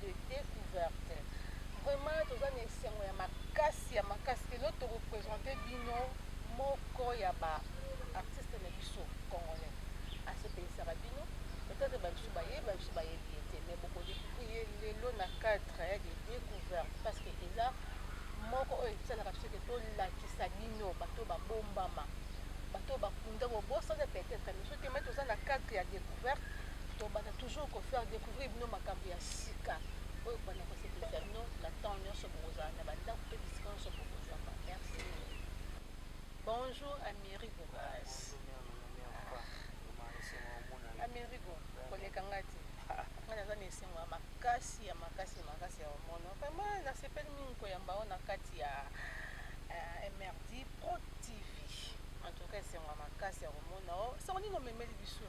de decouverte vraiment toza na esengo ya makasi ya makasi que lelo to representer bino moko ya ba artistes na biso congolais asepelisaka bino peut-être ba biso bayebi ba biso bayebi ye te mais boko découvrir ye lelo na cadre ya de decouverte parce que eza moko oyo esalaka biso ke tolakisa bino bato babombama bato bakunda bobosana peut-être mais soki te mai toza na cadre ya découverte tobanda toujours kofaire découverte Oui bino makambo ya sika oyo bana kosepelisa bino na temps nyonso bokozala na bandako mpe bisika nyonso bokozwaka merci bonjour amerigo bas amerigo koleka ngai te ngai naza na esengo ya makasi ya makasi ya makasi ya omono vraiment nasepeli mingi koyamba o na kati ya eh, mrd pro tv en tout cas esengo ya makasi ya komona o sango nini omemeli biso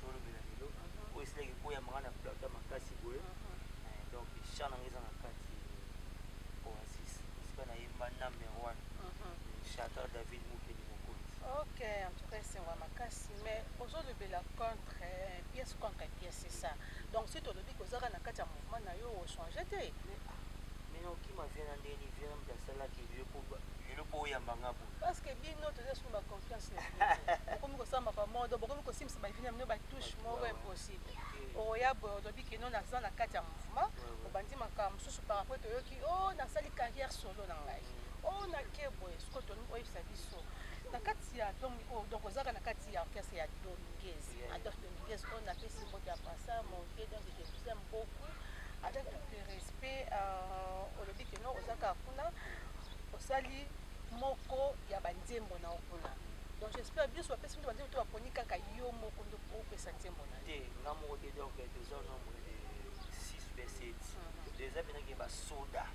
tolobela lelo oyo esilaki ekoyamaka na plata makasi boye eh, donc chan yango eza na kati oasis esika nayemba number one chanteur david mokeli mokonzi ok en tout cas esengo ya makasi mais ozolobela contre eh, pièce contre pièce c'est ça donc si tolobi kozaka na kati ya mouvement na yo ochange te mena okima vie na ndeni vie na moto asalaki lelo mpo oyamba nga boye parce que bino toza suma Cache na poto. Bokomi kosala mapa modo, bokomi kosimbisa ba evina mino ba touche moko impossible. Oya boye olobi que non naza na kati ya mouvement, obandi makambo mosusu par rapport toyoki oh nasali carrière solo na ngai. Oh na ke boye, siko toni oyebisa biso. Na kati ya donc oh donc ozaka na kati ya orchestre ya Dominguez. Adolphe Dominguez on a fait simbo de passa mon vieux donc je vous aime beaucoup avec tout le respect euh, olobi que non ozaka kuna osali moko ya ba nzembo na opona donc j'espère bien soit personne bande to aponi kaka yo moko ndo ko pesa nzembo na te nga moko te donc tozo nombre de 6 be 7 déjà bina ke ba soda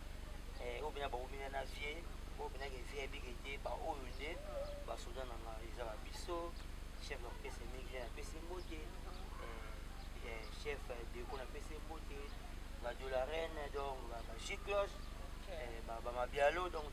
eh au bina ba omina na vie au bina ke vie bi ke te ba oyo nde ba soda na nga eza ba biso chef na pesa mingi na pesa mbote eh chef de ko na pesa mbote ba de la reine donc ba chicloche ba ba mabialo donc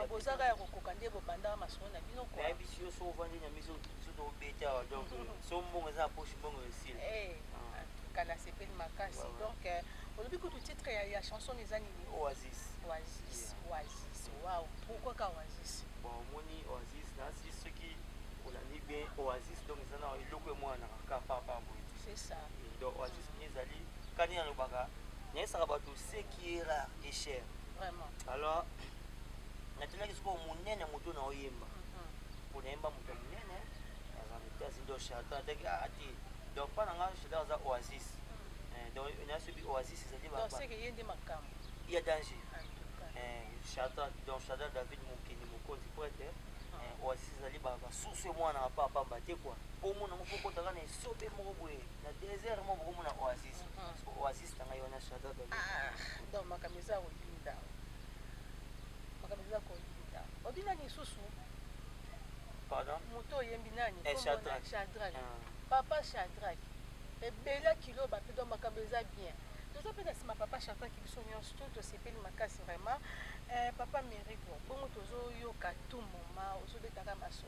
bozaka ya kokoka nde bobandaka masolo na bino nayebisi yo so ovandi na miso biso tobeta awa donc so mbongo eza na poche mbongo esili eh, ah. kala sepeli makasi donc euh, olobi kutu titre ya, ya chanson eza nini oasis oasis oasis wow pourquoi ka oasis bon omoni oasis nasi soki olandi bien oasis donc eza na eloko emwana kaka papa boye c'est ça donc oasis ezali kani alobaka nayesaka bato ce qui est rare et cher vraiment alors natunaki sikoyo monene moto na oyemba mpo mhm. nayemba moto ya monene aza mitasi ndo charton ataki ah, ati donc mpa na nga charton aza oasis mhm. eh, donc nasobi oasis ezali ya danger eh, charton donc charton david mokeni mokonzi prêtre mhm. eh, oasis ezali basusu mwana ya papa pamba te kua mpo omona ngo fokotaka na esobe moko boye na desert mo boko mona oasis so oasis tanga yo na shada da ah donc makambo eza koyinda makambo eza koyinda obi nani lisusu pardon moto oyembi nani eh, shadrack shadrack ah. papa shadrack ebela kilo bape donc makambo eza bien toza mpe na nsima papa shadrack biso nyonso to tosepeli makasi vraiment eh, papa merico bongo tozoyoka tu moma ozobetaka maso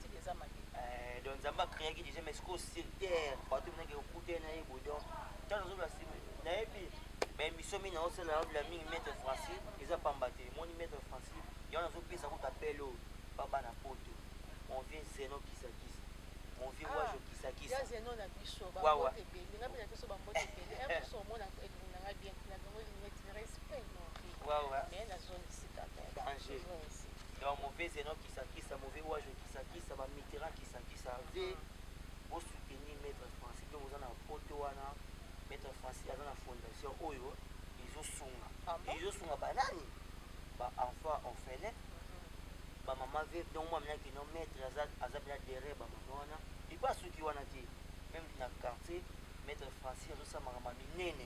style eza mabe eh, donc nzambe akreaki déjà mais sikoyo sur terre bato minaki okute na ye boye donc ntango ozobla simi nayebi baemission mingi naosala naobila mingi maître francis eza pamba te moni maître francis yango nazopesa kuta pele oyo baba na poto mon vieux zeno kisakisa mon vieux ah, wajo kisakisa ya zeno na biso bambote ebele nga mpe na biso bambote ebele un mosu omona elingi na ngai bien na bango elingi respect non mais na zone esika danger donc mon vieux zeno kisakisa mauvais wage kisakisa ba mitterrand kisakisa ve bo soutenir maître français donc oza na poto wana maître français aza na fondation oyo ezosunga ah ezosunga banani ba enfant orphelin mhm. ba mama ve donc mwa minaki no maître aza aza bela derrière ba mama wana epo asuki wana te même na quartier maître français azosala makambo minene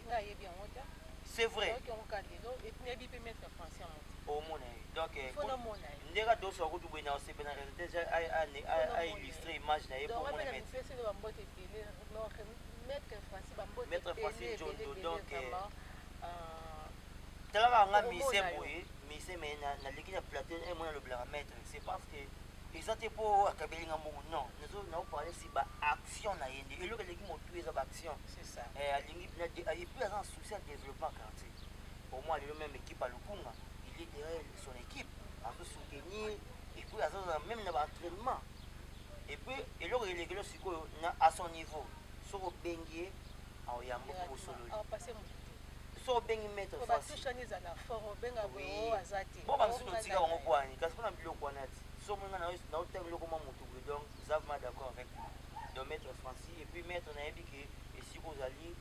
c'est vrai omona ye donc eh, ndenge adoso akutu boye na osepe na réalité ja a illustre image na ye po omona maître maître franci njondo donc eh, euh, talaka nga mise boye mise me naleki na plateau e eh, mwana alobelaka maître c'est parce que eza te mpo akabeli nga mbongo non naoparle si baaction na ye nde eloko eleki motu eza baaction eh, alingi epuis aza na souci ya développement quartier Au moins lelo meme équipe à Lukunga, il est derrière son équipe, à se soutenir et puis à se même dans l'entraînement. Et puis et l'autre il est que sikoyo na à son niveau, soko bengie au yambo ko solo. Ah passer mon so obengi maître bo bamisusu notika bango bwani kasi mpona biloko wana ti so omoni nga naotanga biloko mwa motu boye donc zave ma d'accord avec donc maître francis et puis maître nayebi ke esika ozali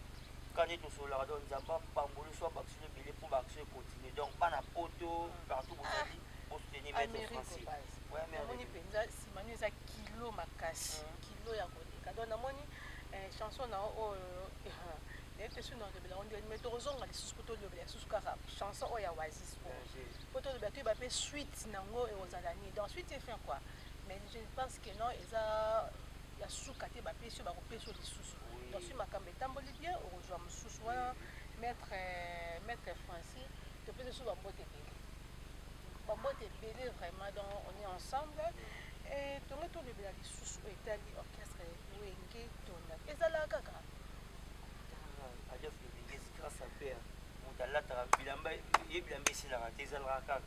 Kani tosololaka donc nzambe apamboli so abakisino ebele po ba action econtinue donc bana poto partout bozali bo soutenir maitre franci namoni mpenza nsima nio eza kilo makasi mm. kilo ya koleka donc namoni eh, chanson na oyo nayebi te soki naolobela ngo ndeni mai tokozonga lisusu po tolobela lisusu kaka chanson oyo ya wasis po po tolobela toyeba mpe suite nango ekozala nini donc suite efin quoi mais je pense que non eza ya suka te bapesi oyo bakopesi oyo lisusu donc soki makambo Etamboli bien okozwa mususu wana maître maître français topesi biso bambote ebele bambote ebele vraiment donc on est ensemble et tongo tolobela lisusu oyo etali orchestre wenge tonda ezalaka kaka ajafu wenge grâce à père moto alataka bilamba ye bilamba esilaka te ezalaka kaka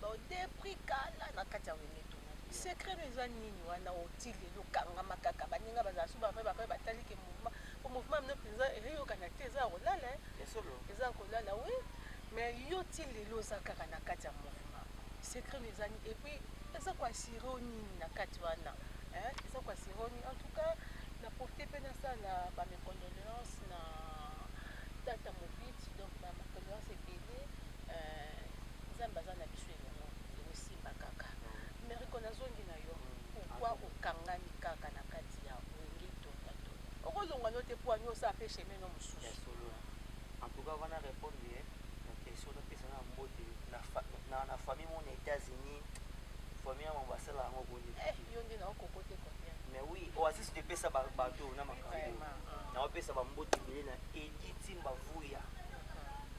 Ba depris kala na kati ya wenge to secret no eza nini wana oti lelo kangama kaka baninga bazala su bavai bavai batali ke mouvement po mouvement mino mpenza eyokana te eza ya kolala eza ya kolala wi mais yo ti lelo oza kaka na kati ya mouvement secret no eza nini et puis eza koasire o nini na kati wana eza koasire o nini en tout cas na profite mpe nasala bamecondoleance na tata mobiti donc bamecondoleance ebele Eh nzambe aza na biso elongo ndeko simba kaka mais rico nazongi na yo pourquoi okangami kaka na kati ya wenge tonga tonga okolongwa no te poani osala pe chemin no mosusu en tout cas wana repondre ye na question na pesa na mbote na na famille mon États-Unis famille ya mambo asala yango boni eh yo nde na okokote combien mais oui oasis de pesa ba bateau na makambo na opesa ba mbote bile na Edith Timba Vuya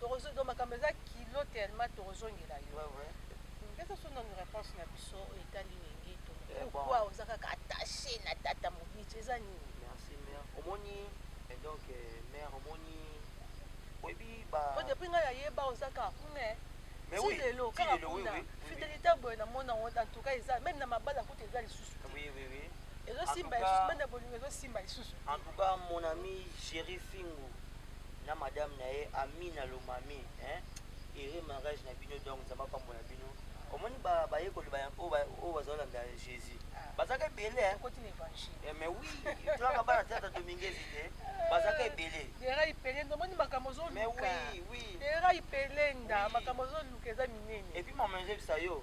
Torozo donc makambo eza kilo tellement torozongela yo. Ouais, ouais. Pesa so nanu réponse na biso oyo etali wenge to Eh, bon. pourquoi oza kaka attaché na tata mobici eza nini Merci mère. Omoni et donc euh, mère omoni oyebi ba po depuis ngai nayeba oza kaka kuna eh. Mais Ti oui, lelo ti kaka lelo, oui, kuna oui, oui, fidelité ya boye namona yango en tout cas eza même na mabala kuta eza lisusu te Oui oui oui. ezosimba En tout cas- lisusu banda bolingo ezosimba lisusu En tout cas mon ami chéri Fingu na madame na ye Amina Lomami hein heureux mariage na bino donc nzambe apambola bino omoni bayekoli oyo bazolanda jésus bazaka ebele hein? eh, mais oui tolaka bana tata dominguez te bazaka ebele erai pelenda omoni makambo ozoluka erai pelenda makambo ozoluka eza minene epuis mama ezebisa yo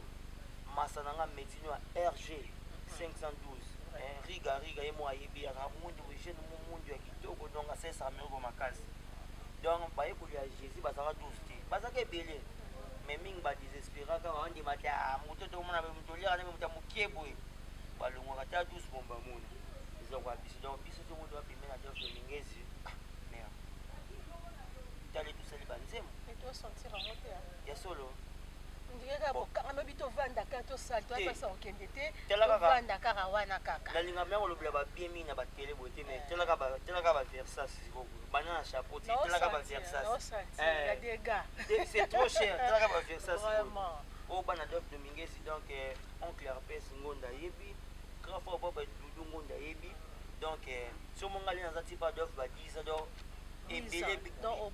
masa na nga metino ya rg 512 riga riga ye mo ayebi yaka mundu jeune mundu ya Yo okodonga sesa amergo makasi. Donc bayekoli ya Jesus bazalaka 12 te. Bazalaka ebele. Mais mingi ba desesperaka ba ndima te ah moto to mona moto liaka na moto mokie boye. Balongwaka ta 12 bomba mona. Eza kwa biso donc biso to moto wapi mena donc lingezi. Ah merde. Tali tusali banzemo. Et toi sentir en moteur. Ya solo. ndenge kaka bokangami tovandaka tosali toyapasa kokende te tala kaka banda kaka wana kaka na linga meko lobela ba bien mi na ba tele boye te mais tala kaka tala kaka ba versas siko bana na chapeau ti tala kaka ba versas eh des gars c'est trop cher tala kaka ba versas vraiment o oh, bana dof dominguez donc eh, oncle herpes ngonda yebi grand frère boba dudu ngonda yebi donc eh, somo ngali naza ti ba dof ba 10 ans donc ebele donc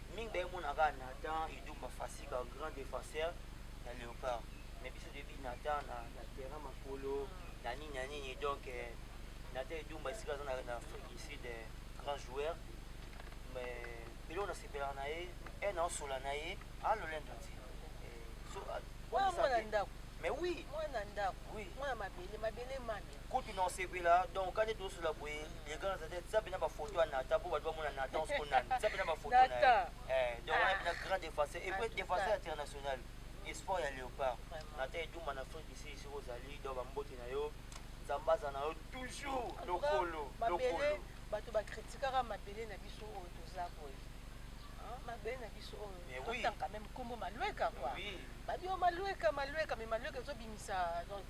mingi baye mona kaka Nathan Idumba Fassi ba grand défenseur ya Leopard mais biso toyebi Nathan na, na terrain makolo na nini na nini donc eh, Nathan Idumba esika aza na, na Afrique du Sud eh, grand joueur mais eloko nasepelaka na ye un aosola na ye alolendo ti eh, so, ah, Mwana mwana ndako. mais oui Mwana ndako. Oui. Mwana mabele mabele mami. Kutu na osepela donc kande to sula boye le grand zate tsa pena ba photo ya Nathan po bato bamona Nathan siko nani tsa pena ba photo na ye eh donc wana pena grand défenseur et puis défenseur international espoir ya Léopard Nathan Edumba na Afrique du Sud siko ozali donc ba mbote na yo Nzambe aza na yo toujours lokolo lokolo bato ba critiquaka mabele na biso oyo toza boye mabele na biso oyo totanga meme nkombo malueka kua badio malueka malueka me malueka ezobimisa donc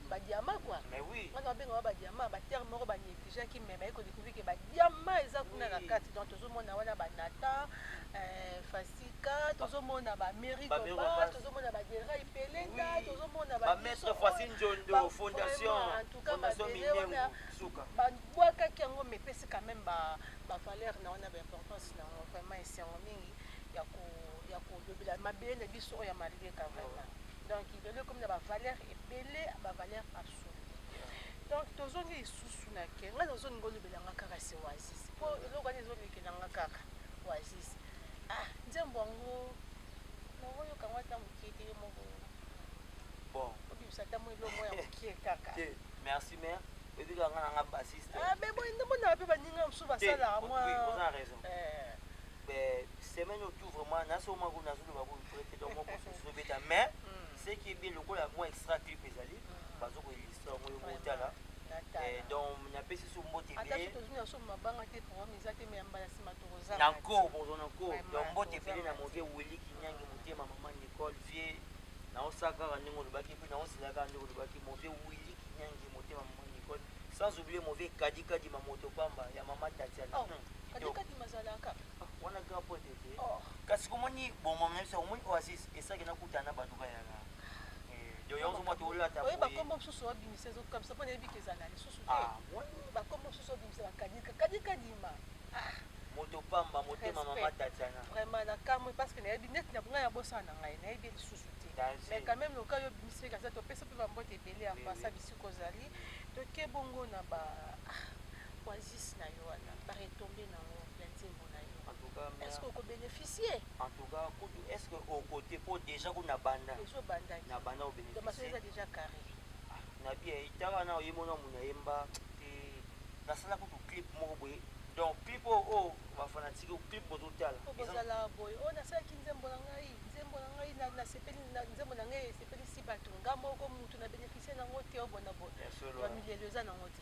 Ba diamants quoi. Mais oui. Wana ba benga ba diamants, ba termes moko ba negligeaki mais ba ko découvrir que ba diamants eza kuna na kati. Donc tozo mona wana ba Nathan, euh, Fasika, tozo mona ba Mary Koba, tozo mona ba Dera Ipelenda, tozo mona ba Ba maître Fasine Njondo, fondation, fondation Minengo, suka. Ba bwaka ki yango mais pesi quand même ba ba valeur na wana ba importance na vraiment esengo mingi ya ko ya ko lobela mabele na biso oyo ya malika vraiment. Donc lelo ekomi na ba valeurs ebele, ba valeurs absolues. Donc tozongi lisusu na ke nga nazo linga olobela nga kaka se Oasis. Po eloko wana ezo lekela nga kaka Oasis. Ah nzembo yango nazo yoka ngo ata mokie te yo moko. Bon. Obimisa ata mo eloko ya mokie kaka. Te, merci mère. Ebika nga na nga bassiste. Ah mais bon ndembo na pe baninga mosusu basalaka mwa. Oui, vous avez raison. Eh. Mais semaine oyo tout vraiment na soma ko nazo loba ko vrai te donc moko soso beta mais ce qui est bien lokola moi extra clip ezali bazo ko illustrer yango yo motala eh, donc napesi so mbote ebele na nko bozo na nko donc mbote ebele na move weli kinyangi motema mama nicole vie naosala kaka ndenge olobaki mpe naosela kaka ndenge olobaki move weli kinyangi motema mama nicole sans oublier move kadikadi mamoto pamba ya mama tatiana oh, hmm, kadikadi mazalaka wana grand pote te oh. kasi komoni bongo meme se omoni oasis esaki nakutana na bato bayaka oye bakombo mosusu obimisa ezokabisa mpo nayebi ke ezala lisusu te ah, bakombo mosusu obimisa bakadika kadika dima ah. moto pamba motema mama tatiana vraiment nakamwe parce que nayebi neti na ngai abosana na ngai nayebi lisusu te mais quand même loka yo obimisi kaza topesa mpe bambote ebele ya mpasa bisika ozali toke bongo na ba ah, oasis na yo wana baretombe na yango ya nzembo na yo en tout cas est ce que oko beneficier en tout cas kutu est ce que oko te po déjà kutu na banda ezo banda na banda au beneficier donc ça déjà carré ah, na bien itaka na oyemona muna yemba te nasala kutu clip moko boye donc clip oyo oh, oyo oh, bafanatike oh, clip bozotala bozala boye oyo nasalaki nzembo na ngai nzembo na ngai nasepeli nzembo na ngai esepelisi bato nga moko motu na bénéficie nango te obona boye bamilelo eza nango te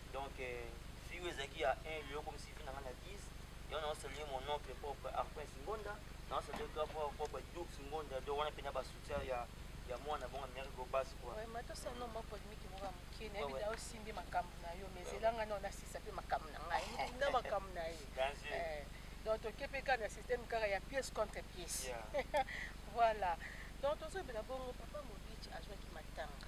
Donc vie oyo ezalaki ya un lelo okomisi vie na nga na 10 yango nao saluer mon oncle propre Arpens Ngonda nao saluer grand frère propre Dux Ngonda donc wana pena ba soutien ya ya mwana bongo mère Gobas quoi Ouais, mais tosa no mwa polemique moko ya moke na yebi nao simbi makambo na yo mais zela nga nao nasisa mpe makambo na ngai moto na makambo na ye Danger. Eh, donc toke mpe kaka na système kaka ya pièce contre pièce Yeah. voilà donc tozobela bongo papa mobici azwaki matanga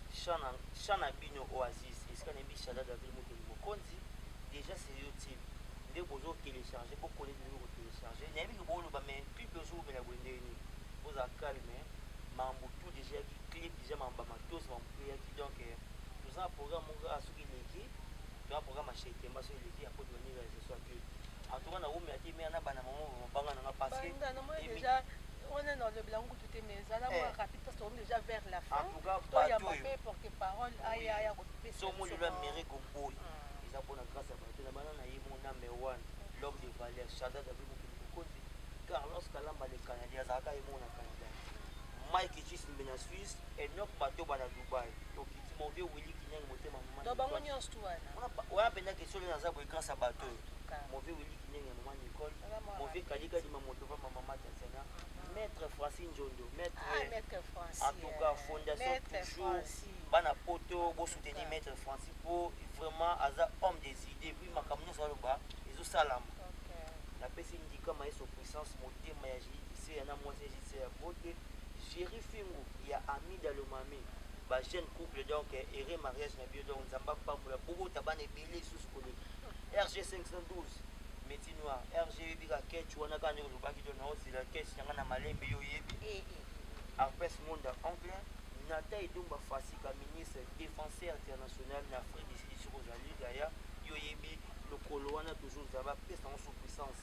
Chant na chant na bino oasis esika na yebi shadada ville mokeli mokonzi dejà c'est youtube nde bozo telecharge bo connait bino ko telecharge nayebi que bo loba mais pub ezo wumela boye ndenge nini bo zala calme mambo tout dejà eyaki clip dejà mambo ba matos mambo tout eyaki donc toza na programme moko kaka soki eleki toza programme ya chez temba soki eleki après to bandi realisation ya clip en tout cas na wumela te mais na banda maman ba banga na nga parce que Banda, namoni deja wana na lobela yango kutu te mais zala mwa eh. rapide parce tokomi déjà vers la fin toyamba mpe porte parole aya ya kopesaomolelo ya mere koboyi hmm. eza mpona grâce ya bato na bana na ye mona mewan l'homme de valeur chada david mokili mokonzi carlos kalamba le canadien azalaka ye mona canada mike jismbe na suisse enok batoba na dubai tokiti move wili kinyangi motema bango nyonso tu wana wana mpenza kesolo naza boye grâce ya bato oyo move wili kinyangi ya mama nicole move kalikadima moto va mamama tatiana Maître Francis Njondo, maître, ah, maître Francis, en tout cas fondation maître toujours Francis. bana poto bo soutenir maître Francis po vraiment aza homme des idées puis makambo nyonso aloba ezo salama okay. napesi ndika maestro puissance motema ya JDC ya na mwasi ya JDC ya bote Jerry Fingu ya Amida Lomami ba jeune couple donc heureux mariage na bio donc nzamba pambola bobota bana ebele lisusu koleka RG 512 Meti noir RG yebi ka catch wana ka nde olobaki to nao zela catch nanga na malembe yo yebi eh, eh, eh. Arpes Monda oncle Nata Edumba Fasika ministre defenseur international na Afrique du Sud soki ozali yaya yo yebi lokolo wana toujours za ba pesa ngo sous puissance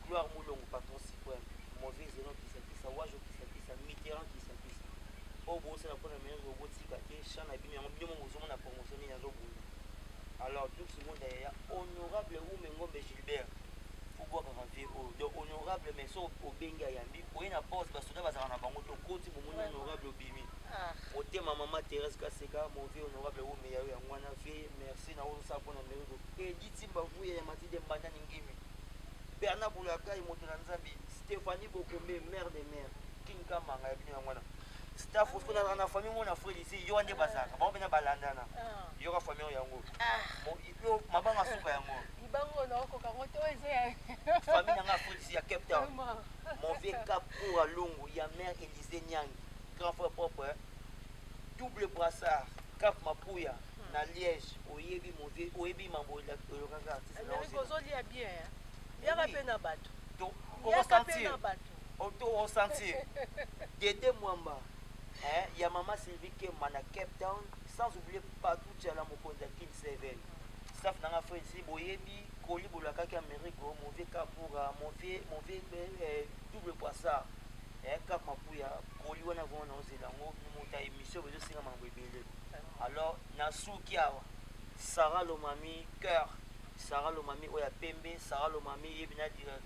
Gloire Mulongo patron supreme mauvais zeno kisa kisa wajo kisa kisa Mitterrand kisa kisa oyo bosala pona meilleur obotika te chant na bino yango bino moko bozomona promotion nini azobunda Alors tout ce monde est ya honorable ou mengombe Gilbert pour boire un vieux oh donc honorable mais so au bengi à yambi pour une pause parce que bazana bango to koti pour mon honorable obimi ah. au thème maman Thérèse Kaseka mon vieux honorable ou mais ya ya mwana vieux merci na ozo sa pona mero et dit simba vous ya mati de mbanda ningimi Bernard Boulaka et Moto Nzambi Stéphanie Bokombe mère de mère King Kamanga ya bino ya mwana Staff osko na na famille ngo na frère ici yo ande bazaka ba bena balandana ah. yo ka famille yango ah. mo yo mabanga suka yango bango na ko kango to ezo ya famille nga frère ici ya Cape Town mon vieux cap pour alongo ya mère Elise Nyang grand frère propre hein. double brassard cap mapuya hmm. na Liège oyebi mon vieux oyebi mambo ya lokaka artiste na ozo ozoli ya bien hein. yaka pe na bato to ko sentir Oto o sentir. Dede Mwamba. Eh, ya mama Sylvie Kemba na Cape Town, sans oublier Patou Tchala mokonzi ya Kin 7. Staff nanga frère si boyebi koli bolakaki Amerigo, mon vieux Kapura, mon vieux mon vieux eh, double poissard. Eh, Cap Mapuya, koli wana vraiment na ozela ngo mota émission bezo singa mango ebele. Alors na suki awa. Sarah Lomami cœur, Sarah Lomami oya pembe, Sarah Lomami yebina dire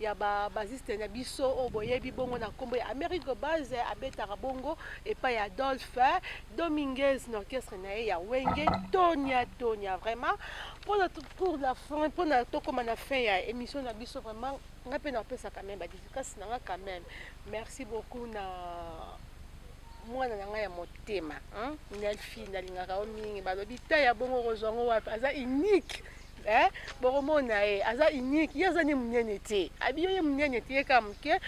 ya ba basiste na biso oyo boyebi bongo na nkombo ya Amerigo Base abetaka bongo epai ya Adolphe Dominguez na orchestre na ye ya Wenge Tonia Tonia vraiment mpona pour la fin mpona tokóma na fin ya émission na biso vraiment nga mpe napesa quand même badidikasi na nga quand même merci beaucoup na mwana na ngai ya motema nelfi nalingaka yo mingi balobi te ya bongo okozwa yango wapi aza unique eh bokomona ye eh, aza unique ye aza nde monene te abiyo ye monene te ye kaka moke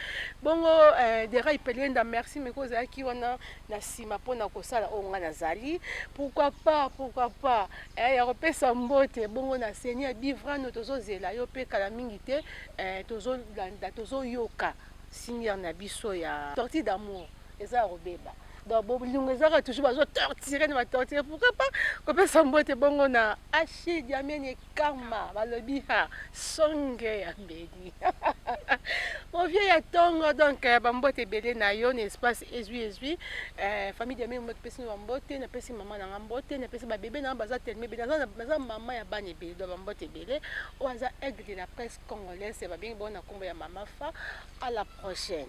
bongo eh, dera ipelenda merci meko ozalaki wana na nsima mpo na kosala oyo ngai nazali pourquoi pas pourquoi pas eh, ya kopesa mbote bongo na seni ya bivrano tozozela yo mpe kala mingi te eh, tozolanda tozoyoka siniere na biso ya sortie d'amour eza ya kobeba donc bolingo ezaka toujours bazo torture na batorture pourquoi pas kopesa mbote bongo na ashi diamene kama balobi ha songe ya mbeni movie ya tongo donc euh, bambote ebele na yo na espace ezwi ezwi euh, famille diamene mbote pesi na bambote napesi mama na nga mbote napesi babebe na nga baza teleme ebele naza mama ya bana ebele donc bambote ebele oyo aza aigle de la presse congolaise babengi bongo na nkombo ya mama fa à la prochaine